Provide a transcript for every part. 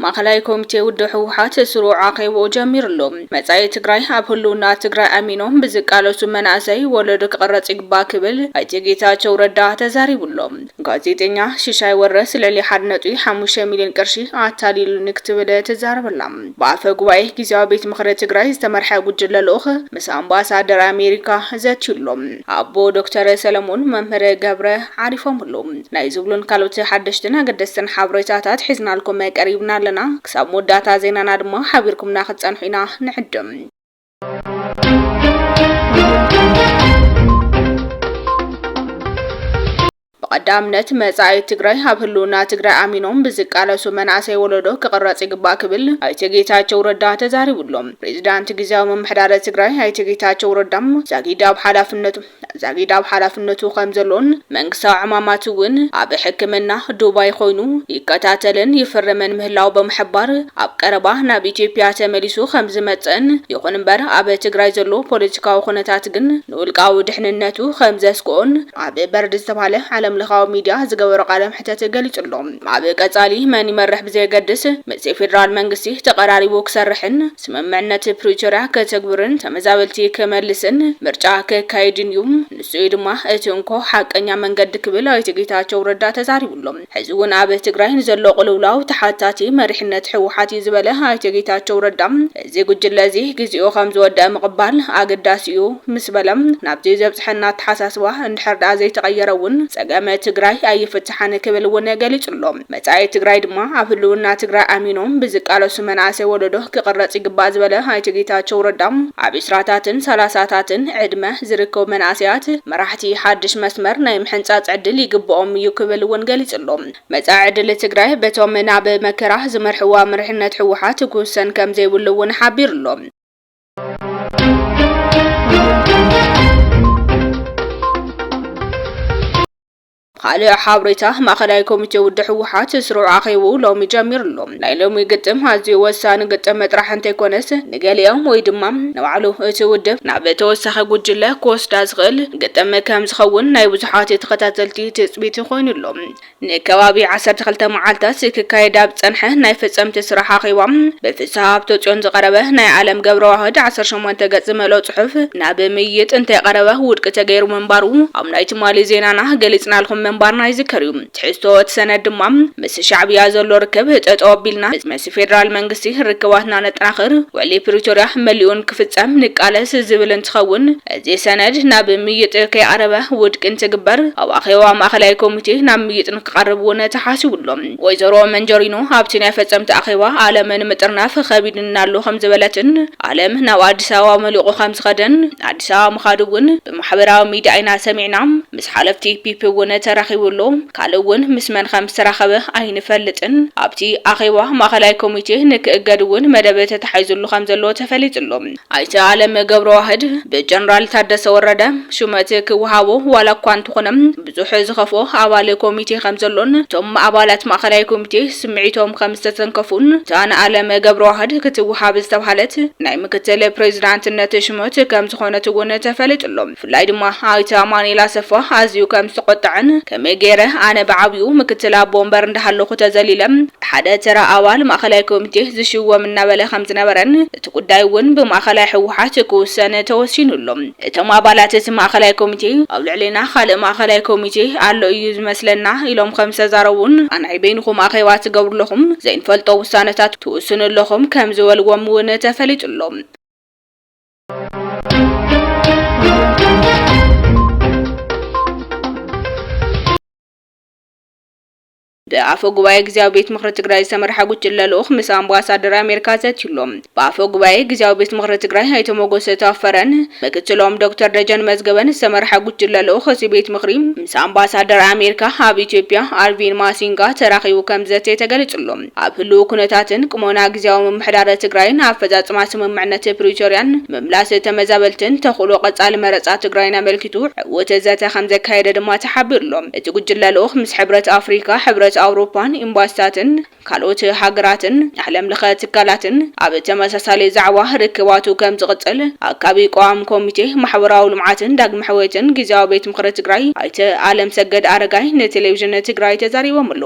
ማእኸላይ ኮሚቴ ውድብ ህወሓት ስሩዕ ኣኼብኡ ጀሚሩ ኣሎ። መጻኢ ትግራይ ኣብ ህልውና ትግራይ ኣሚኖም ብዝቃለሱ መናእሰይ ወለዶ ክቕረጽ ይግባእ ክብል ኣይተ ጌታቸው ረዳ ተዛሪቡ ኣሎ። ጋዜጠኛ ሽሻይ ወረስ ልዕሊ ሓደ ነጥቢ ሓሙሽተ ሚልዮን ቅርሺ ኣታሊሉኒ ክትብል ትዛረብ ኣላ። ብኣፈ ጉባኤ ግዝያዊ ቤት ምኽሪ ትግራይ ዝተመርሐ ጉጅለ ልኡኽ ምስ ኣምባሳደር ኣሜሪካ ዘትዩ ኣሎ። ኣቦ ዶክተር ሰለሙን መምህር ገብረ ዓሪፎምሉ ናይ ዝብሉን ካልኦት ሓደሽትን ኣገደስትን ሓበሬታታት ሒዝናልኩም ቀሪብና ኣለና። ክሳብ መወዳእታ ዜናና ድማ ሓቢርኩምና ክትጸንሑ ኢና ንዕድም። ብቐዳምነት መፃኢ ትግራይ ኣብ ህልውና ትግራይ ኣሚኖም ብዝቃለሱ መናእሰይ ወለዶ ክቕረፅ ይግባእ ክብል ኣይተ ጌታቸው ረዳ ተዛሪቡ ኣሎ። ፕሬዚዳንት ጊዚያዊ ምምሕዳረ ትግራይ ኣይተ ጌታቸው ረዳ ዛጊድ ኣብ ሓላፍነቱ ዛጊድ ኣብ ሓላፍነቱ ከምዘሎን መንግስታዊ ዕማማት እውን ኣብ ሕክምና ዱባይ ኾይኑ ይከታተልን ይፍርምን ምህላው ብምሕባር ኣብ ቀረባ ናብ ኢትዮጵያ ተመሊሱ ከምዝመፅእን ይኹን እምበር ኣብ ትግራይ ዘሎ ፖለቲካዊ ኹነታት ግን ንውልቃዊ ድሕንነቱ ከም ዘስግኦን ኣብ በርድ ዝተብሃለ ዓለምለኻዊ ሚድያ ዝገበሮ ቃለ መሕተት ገሊጹ'ሎ። ኣብ ቀጻሊ መን ይመርሕ ብዘየገድስ ምስ ፌደራል መንግስቲ ተቐራሪቡ ክሰርሕን ስምምዕነት ፕሪቶርያ ከተግብርን ተመዛበልቲ ክመልስን ምርጫ ከካይድን'ዩ። ንሱ'ዩ ድማ እቲ እንኮ ሓቀኛ መንገዲ ክብል ኣይተ ጌታቸው ረዳ ተዛሪቡ'ሎ። ሕዚ እውን ኣብ ትግራይ ንዘሎ ቅልውላው ተሓታቲ መሪሕነት ህወሓት እዩ ዝበለ ኣይተ ጌታቸው ረዳ፣ እዚ ጉጅለ እዚ ግዚኡ ከምዝወደኣ ምቕባል ኣገዳሲ እዩ ምስ በለ፣ ናብዚ ዘብፀሐና ኣተሓሳስባ እንድሕር ድኣ ዘይተቐየረ እውን ፀገም ትግራይ ኣይፍታሕን ክብል እውን ገሊፁ ኣሎ። መፃኢ ትግራይ ድማ ኣብ ህልውና ትግራይ ኣሚኖም ብዝቃለሱ መናእሰይ ወለዶ ክቕረፅ ይግባእ ዝበለ ኣይተ ጌታቸው ረዳ፣ ኣብ ዕስራታትን ሰላሳታትን ዕድመ፣ ዝርከቡ መናእሰያት መራሕቲ ሓድሽ መስመር ናይ ምሕንፃፅ ዕድል ይግበኦም እዩ ክብል እውን ገሊፁ ኣሎ። መፃኢ ዕድል ትግራይ በቶም ናብ መከራ ዝመርሕዋ መሪሕነት ህወሓት ክውሰን ከምዘይብሉ እውን ሓቢሩ ኣሎ። ብኻልእ ሓብሬታ ማእኸላይ ኮሚቴ ውድብ ህወሓት ስሩዕ ኣኼብኡ ሎሚ ጀሚሩ ኣሎ። ናይ ሎሚ ግጥም ኣዝዩ ወሳኒ ግጥም ጥራሕ እንተይኮነስ ንገሊኦም ወይ ድማ ንባዕሉ እቲ ውድብ ናብ ተወሳኺ ጉጅለ ክወስዳ ዝኽእል ግጥም ከም ዝኸውን ናይ ብዙሓት ተኸታተልቲ ትፅቢት ኮይኑ ኣሎ። ንከባቢ ዓሰርተ ክልተ መዓልታት ክካየድ ኣብ ዝፀንሐ ናይ ፈፀምቲ ስራሕ ኣኼባ ብፍስሃ ሃብተፅዮን ዝቐረበ ናይ ኣለም ገብረዋህድ ዓሰርተ ሸሞንተ ገፅ ዝመልኦ ፅሑፍ ናብ ምይይጥ እንተይቐረበ ውድቂ ተገይሩ ምንባሩ ኣብ ናይ ትማሊ ዜናና ገሊጽናልኩም ምንባርና ይዝከር እዩ። ትሕዝቶ እቲ ሰነድ ድማ ምስ ሻዕብያ ዘሎ ርክብ ጠጠው ኣቢልና ምስ ፌደራል መንግስቲ ርክባትና ነጠናኽር፣ ውዕሊ ፕሪቶርያ መሊኡ ንክፍጸም ንቃለስ ዝብል እንትኸውን እዚ ሰነድ ናብ ምይይጥ ከይቐረበ ውድቂ እንትግበር ኣብ ኣኼባ ማእኸላይ ኮሚቴ ናብ ምይይጥ ንክቐርብ እውን ተሓሲቡ ኣሎ። ወይዘሮ መንጀሪኖ ኣብቲ ናይ ፈጸምቲ ኣኼባ ኣለም ንምጥርናፍ ኸቢዱኒ ኣሎ ከምዝበለትን ኣለም ናብ ኣዲስ ኣበባ መሊቑ ከምዝኸደን ኣዲስ ኣበባ ምኻዱ እውን ብማሕበራዊ ሚድያ ኢና ሰሚዕና ምስ ሓለፍቲ ፒፒ እውን ተራኺቡ ኣሎ ካልእ እውን ምስ መን ከም ዝተራኸበ ኣይንፈልጥን ኣብቲ ኣኼባ ማእኸላይ ኮሚቴ ንክእገድ እውን መደብ ተታሒዙሉ ከም ዘሎ ተፈሊጡ ኣሎ ኣይተ ኣለም ገብረዋህድ ብጀነራል ታደሰ ወረደ ሹመት ክወሃቦ ዋላ እኳ እንተኾነ ብዙሕ ዝኸፍኦ ኣባል ኮሚቴ ከምዘሎን እቶም ኣባላት ማእኸላይ ኮሚቴ ስምዒቶም ከምዝተተንከፉን እታ ንኣለም ገብረዋህድ ክትወሃብ ዝተብሃለት ናይ ምክትል ፕሬዚዳንትነት ሽመት ከምዝኾነት እውን ተፈሊጡ ኣሎ። ብፍላይ ድማ ኣይተ ኣማኒኤል ኣሰፋ ኣዝዩ ከምዝተቖጠዐን ከመይ ገይረ ኣነ ብዓብዩ ምክትል ኣቦ ወንበር እንዳሃለኹ ተዘሊለ ብሓደ ተራ ኣባል ማእኸላይ ኮሚቴ ዝሽወም እናበለ ከምዝነበረን እቲ ጉዳይ እውን ብማእኸላይ ህወሓት ክውሰን ተወሲኑ ኣሎ። እቶም ኣባላት እቲ ማእኸላይ ኮሚቴ ኣብ ልዕሌና ኻልእ ማእኸላይ ኮሚቴ ኣሎ እዩ ዝመስለና ኢሎም ኸምዝተዛረቡን ኣንዓይ በይንኹም ኣኼባ ትገብሩለኹም ዘይንፈልጦ ውሳነታት ትውስኑ ኣለኹም ከምዝበልዎም እውን ተፈሊጡ ኣሎ። ብኣፈ ጉባኤ ግዝያዊ ቤት ምኽሪ ትግራይ ዝተመርሐ ጉጅለ ልኡኽ ምስ ኣምባሳደር ኣሜሪካ ዘትዩ ኣሎ። ብኣፈ ጉባኤ ግዝያዊ ቤት ምኽሪ ትግራይ ኣይተ ሞጎሰ ታፈረን ምክትሎም ዶክተር ደጀን መዝገበን ዝተመርሐ ጉጅለ ልኡኽ እቲ ቤት ምኽሪ ምስ ኣምባሳደር ኣሜሪካ ኣብ ኢትዮጵያ ኣርቪን ማሲንጋ ተራኺቡ ከምዘተየ ተገሊፁ ኣሎ። ኣብ ህልዊ ኩነታትን ቅሞና ግዝያዊ ምምሕዳረ ትግራይን ኣፈፃፅማ ስምምዕነት ፕሪቶርያን ምምላስ ተመዛበልትን ተኽእሎ ቐፃሊ መረፃ ትግራይን ኣመልኪቱ እቲ ዘተ ከምዘካየደ ድማ ተሓቢሩ'ሎ። እቲ ጉጅለ ልኡኽ ምስ ሕብረት ኣፍሪካ፣ ሕብረት ኣውሮፓን ኤምባሲታትን ካልኦት ሃገራትን ዓለም ለኸ ትካላትን ኣብ ተመሳሳሊ ዛዕባ ርክባቱ ከምዝቕፅል ኣካቢ ቋዋሚ ኮሚቴ ማሕበራዊ ልምዓትን ዳግመ ሕውየትን ጊዚያዊ ቤት ምኽሪ ትግራይ ኣይተ ኣለምሰገድ ኣረጋይ ንቴሌቪዥን ትግራይ ተዛሪቦምሉ።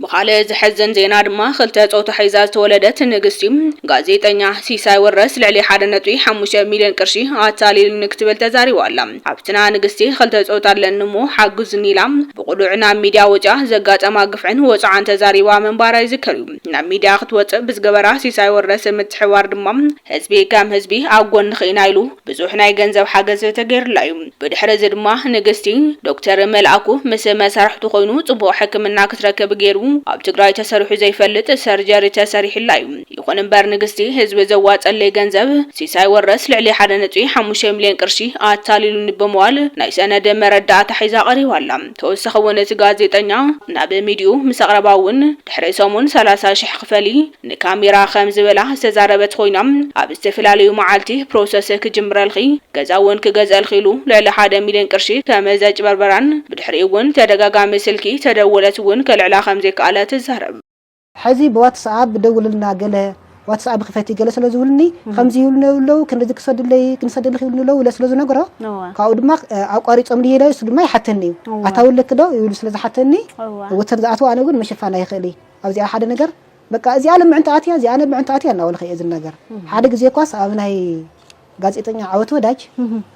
ብኻልእ ዘሕዝን ዜና ድማ ክልተ ጾታ ሒዛ ዝተወለደት ንግስቲ ጋዜጠኛ ሲሳይ ወረስ ልዕሊ ሓደ ነጥቢ ሓሙሽተ ሚልዮን ቅርሺ ኣታሊሉኒ ክትብል ተዛሪባ ኣላ። ሓብትና ንግስቲ ክልተ ጾታ ኣለኒ እሞ ሓግዙኒ ኢላ ብቕሉዕ ናብ ሚድያ ወጺኣ ዘጋጠማ ግፍዕን ወጽዓን ተዛሪባ ምንባራ ይዝከር እዩ። ናብ ሚድያ ክትወጽእ ብዝገበራ ሲሳይ ወረስ ምትሕብባር ድማ ህዝቢ ከም ህዝቢ ኣብ ጎንኺ ኢና ኢሉ ብዙሕ ናይ ገንዘብ ሓገዝ ተገይሩላ እዩ። ብድሕሪ እዚ ድማ ንግስቲ፣ ዶክተር መልኣኩ ምስ መሳርሕቱ ኮይኑ ፅቡቕ ሕክምና ክትረክብ ገይሩ። ኣብ ትግራይ ተሰሪሑ ዘይፈልጥ ሰርጀሪ ተሰሪሑላ እዩ። ይኹን እምበር ንግስቲ ህዝቢ ዘዋፀለይ ገንዘብ ሲሳይ ወረስ ልዕሊ ሓደ ነጥቢ ሓሙሽተ ሚሊየን ቅርሺ ኣታሊሉኒ ብምባል ናይ ሰነድ መረዳእታ ሒዛ ቀሪባ ኣላ። ተወሳኺ እውን እቲ ጋዜጠኛ ናብ ሚድይኡ ምስ ኣቕረባ እውን ድሕሪ ሰሙን ሰላሳ ሽሕ ክፈሊ ንካሜራ ከም ዝበላ ዝተዛረበት ኮይና ኣብ ዝተፈላለዩ መዓልቲ ፕሮሰስ ክጅምረልኺ ገዛ እውን ክገዝእልኺ ኢሉ ልዕሊ ሓደ ሚልዮን ቅርሺ ከም ዘጭበርበራን ብድሕሪኡ እውን ተደጋጋሚ ስልኪ ተደወለት እውን ከልዕላ ከም ዘይከኣለ ትዛረብ። ሕዚ ብዋትስኣብ ደውልልና ገለ ዋትስኣብ ክፈቲ ገለ ስለ ዝብሉኒ ከምዚ ይብሉኒ ኣለዉ ክንድዚ ክሰድለይ ክንሰደልኺ ይብሉኒ ኣለዉ ኢለ ስለ ዝነግሮ ካብኡ ድማ ኣቋሪጾምኒ ኢለ ንሱ ድማ ይሓተኒ እዩ ኣታዊ ኣለኪ ዶ ይብሉ ስለ ዝሓተኒ ወተን ዝኣትዋ ኣነ ግን ምሽፋን ኣይኽእል እየ ኣብዚኣ ሓደ ነገር በቃ እዚኣ ን ምዕንታ ኣትያ እዚኣ ን ምዕንታ ኣትያ እናበልካ እየ ዝናገር ሓደ ግዜ እኳስ ኣብ ናይ ጋዜጠኛ ዓወት ወዳጅ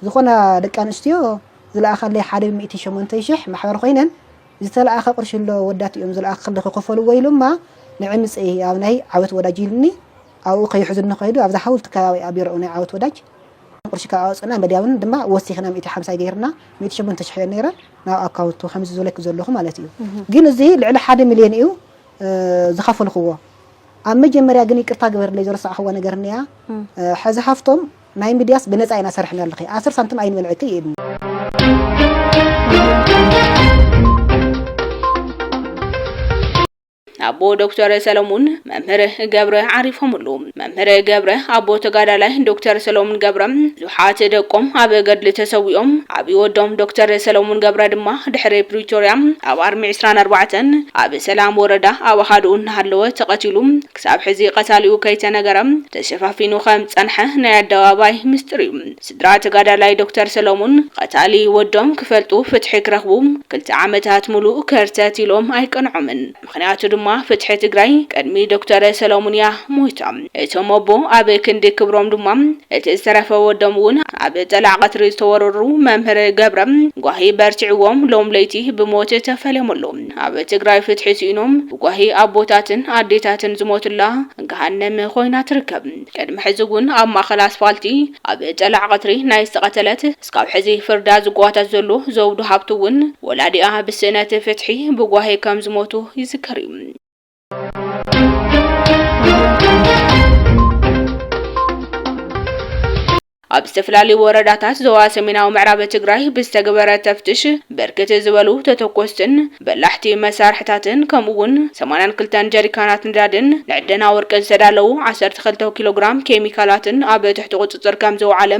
ዝኾና ደቂ ኣንስትዮ ዝለኣኻለይ ሓደ ሚእቲ ሸሞንተይ ሽሕ ማሕበር ኮይነን ዝተለኣኸ ቅርሺ ኣሎ ወዳት እዮም ዝለኣኽ ክሊ ክኸፈልዎ ኢሎማ ንዒ ምፀኢ ኣብ ናይ ዓወት ወዳጅ ኢልኒ ኣብኡ ከይሕዙኒ ከይዱ ኣብዛ ሓውልቲ ከባቢ ኣብ ቢሮኡ ናይ ዓወት ወዳጅ ቅርሺ ካብ ኣውፅእና መድያብን ድማ ወሲኽና ሚእቲ ሓምሳይ ገይርና ሚእቲ ሸሞንተ ሽሕ እየን ነይረን ናብ ኣካውንቱ ከምዚ ዝበለኪ ዘለኹ ማለት እዩ ግን እዚ ልዕሊ ሓደ ሚልዮን እዩ ዝኸፈልኽዎ ኣብ መጀመርያ ግን ይቅርታ ግበርለይ ዘረሳዕኽዋ ነገር እኒኣ ሐዚ ሃፍቶም ናይ ሚድያስ ብነፃ ኢና ሰርሕናልኺ ኣስር ሳንትም ኣይንበልዕኪ ኢድኒ ኣቦ ዶክተር ሰለሙን መምህር ገብረ ዓሪፎምሉ መምህር ገብረ፣ ኣቦ ተጋዳላይ ዶክተር ሰለሙን ገብረ፣ ብዙሓት ደቆም ኣብ ገድሊ ተሰዊኦም፣ ዓብዪ ወዶም ዶክተር ሰለሙን ገብረ ድማ ድሕሪ ፕሪቶርያ ኣብ ኣርሚ ዕስራን ኣርባዕተን ኣብ ሰላም ወረዳ ኣብ ኣሃዱኡ እናሃለወ ተቐቲሉ ክሳብ ሕዚ ቐታሊኡ ከይተነገረ ተሸፋፊኑ ከምዝፀንሐ ናይ ኣደባባይ ምስጢር እዩ። ስድራ ተጋዳላይ ዶክተር ሰለሙን ቐታሊ ወዶም ክፈልጡ ፍትሒ ክረኽቡ ክልተ ዓመታት ሙሉእ ከርተት ኢሎም ኣይቀንዖምን። ምኽንያቱ ድማ ፍትሒ ትግራይ ቅድሚ ዶክተር ሰለሙን እያ ሞይታ። እቶም ኣቦ ኣብ ክንዲ ክብሮም ድማ እቲ ዝተረፈ ወዶም እውን ኣብ ጠላዕ ቐትሪ ዝተወረሩ መምህር ገብረ ጓሂ በርቲዕዎም ሎም ለይቲ ብሞት ተፈልዮም ኣለው። ኣብ ትግራይ ፍትሒ ስኢኖም ብጓሂ ኣቦታትን ኣዴታትን ዝሞቱላ ገሃነም ኾይና ትርከብ። ቅድሚ ሕዚ እውን ኣብ ማእኸል ኣስፋልቲ ኣብ ጠላዕ ቐትሪ ናይ ዝተቐተለት እስካብ ሕዚ ፍርዳ ዝጓተት ዘሎ ዘውዱ ሃብቱ እውን ወላዲኣ ብስእነት ፍትሒ ብጓሂ ከም ዝሞቱ ይዝከር እዩ። ኣብ ዝተፈላለዩ ወረዳታት ዞባ ሰሜናዊ ምዕራብ ትግራይ ብዝተገበረ ተፍትሽ ብርክት ዝበሉ ተተኮስትን በላሕቲ መሳርሕታትን ከምኡ'ውን ሰማንያን ክልተን ጀሪካናት ነዳድን ንዕደና ወርቂ ዝተዳለዉ ዓሰርተ ክልተ ኪሎ ግራም ኬሚካላትን ኣብ ትሕቲ ቁጽጽር ከምዝወዓለ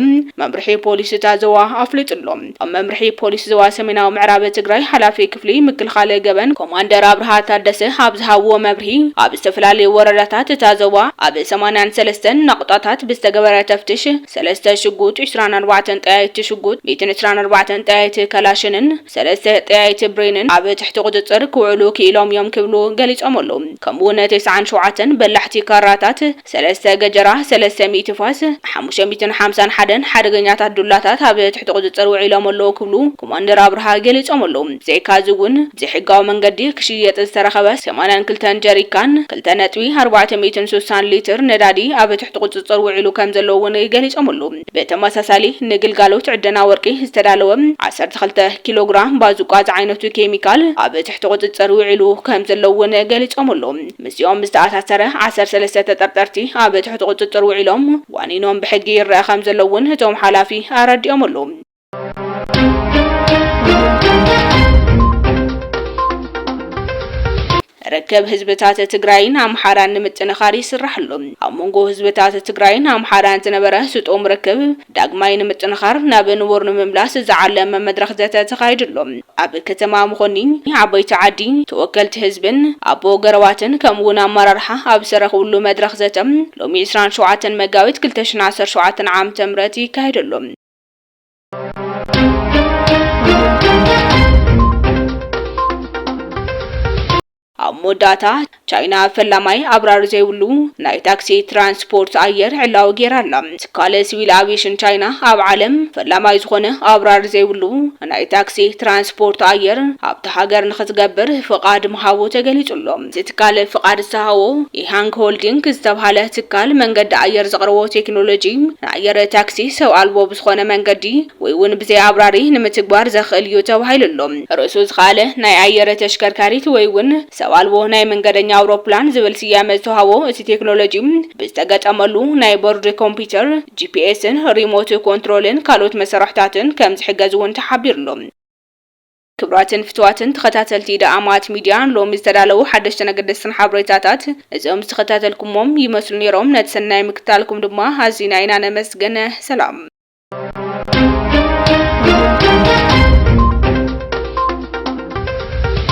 መምርሒ ፖሊስ እታ ዞባ ኣፍሊጡ ኣሎ። ኣብ መምርሒ ፖሊስ ዞባ ሰሜናዊ ምዕራብ ትግራይ ሓላፊ ክፍሊ ምክልኻል ገበን ኮማንደር ኣብርሃ ታደሰ ኣብ ዝሃብዎ መብርሂ፣ ኣብ ዝተፈላለዩ ወረዳታት እታ ዞባ ኣብ ሰማንያን ሰለስተን ናቑጣታት ብዝተገበረ ተፍትሽ ሰለስተ ሽጉጥ፣ ዕስራን ኣርባዕተን ጠያይቲ ሽጉጥ፣ ሚእትን ዕስራን ኣርባዕተን ጠያይቲ ከላሽንን ሰለስተ ጠያይቲ ብሬንን ኣብ ትሕቲ ቁፅፅር ክውዕሉ ክኢሎም እዮም ክብሉ ገሊፆም ኣለው። ከምኡ እውን ተስዓን ሸውዓተን በላሕቲ ካራታት፣ ሰለስተ ገጀራ፣ ሰለስተ ሚእቲ ፋስ፣ ሓሙሽተ ሚእትን ሓምሳን ሓደን ሓደገኛታት ዱላታት ኣብ ትሕቲ ቁፅፅር ውዒሎም ኣለው ክብሉ ኮማንደር ኣብርሃ ገሊፆም ኣለው። ብዘይካ እዚ እውን ብዘይሕጋዊ መንገዲ ክሽየጥ ዝተረኸበ ሰማንያን ክልተን ጀሪካን፣ ክልተ ነጥቢ ኣርባዕተ ሚእትን ሱሳን ሊትር ነዳዲ ኣብ ትሕቲ ቁፅፅር ውዒሉ ከም ዘሎ እውን ገሊፆም ኣለው። ብተመሳሳሊ ንግልጋሎት ዕደና ወርቂ ዝተዳለወ ዓሰርተ ክልተ ኪሎ ግራም ባዙቃ ዝዓይነቱ ኬሚካል ኣብ ትሕቲ ቁፅፅር ውዒሉ ከምዘሎ እውን ገሊፆምሉ። ምስዚኦም ዝተኣሳሰረ ዓሰርተ ሰለስተ ተጠርጠርቲ ኣብ ትሕቲ ቁፅፅር ውዒሎም ዋኒኖም ብሕጊ ይረኣ ከምዘሎ እውን እቶም ሓላፊ ኣረዲኦምሉ። ርክብ ህዝብታት ትግራይን ኣምሓራን ንምጥንኻር ይስራሕ ኣሎ። ኣብ መንጎ ህዝብታት ትግራይን ኣምሓራን ዝነበረ ስጡም ርክብ ዳግማይ ንምጥንኻር ናብ ንቡር ንምምላስ ዝዓለመ መድረኽ ዘተ ተኻይዱ ኣሎ። ኣብ ከተማ መኾኒ ዓበይቲ ዓዲ ተወከልቲ ህዝብን ኣቦ ገረባትን ከምኡ እውን ኣመራርሓ ኣብ ዝተረኽብሉ መድረኽ ዘተ ሎሚ 27 መጋቢት 2017 ዓ.ም ይካየድ ኣሎ። ኣብ መወዳእታ ቻይና ፈላማይ ኣብራሪ ዘይብሉ ናይ ታክሲ ትራንስፖርት ኣየር ዕላዊ ጌራ ኣላ። ትካል ሲቪል ኣቪሽን ቻይና ኣብ ዓለም ፈላማይ ዝኾነ ኣብራሪ ዘይብሉ ናይ ታክሲ ትራንስፖርት ኣየር ኣብቲ ሃገር ንክትገብር ፍቓድ ምሃቡ ተገሊጹ ኣሎ። እቲ ትካል ፍቓድ ዝተሃቦ ኢሃንግ ሆልዲንግ ዝተብሃለ ትካል መንገዲ ኣየር ዘቕረቦ ቴክኖሎጂ ንኣየር ታክሲ ሰብ ኣልቦ ብዝኾነ መንገዲ ወይ እውን ብዘይ ኣብራሪ ንምትግባር ዘኽእል እዩ ተባሂሉ ኣሎ። ርእሱ ዝኸኣለ ናይ ኣየር ተሽከርካሪት ወይ እውን ሰብ ኣልቦ ናይ መንገደኛ ኣውሮፕላን ዝብል ስያመ ዝተውሃቦ እቲ ቴክኖሎጂ ብዝተገጠመሉ ናይ ቦርድ ኮምፒተር፣ ጂፒኤስን ሪሞት ኮንትሮልን ካልኦት መሰርሕታትን ከምዝሕገዝ እውን ተሓቢሩ ኣሎ። ክብራትን ፍትዋትን ተኸታተልቲ ኢደ ኣማት ሚድያ ሎሚ ዝተዳለዉ ሓደሽትን ኣገደስትን ሓብሬታታት እዞም ዝተኸታተልኩሞም ይመስሉ ኔሮም ነቲ ሰናይ ምክትታልኩም ድማ ኣዚና ኢና ነመስግን ሰላም።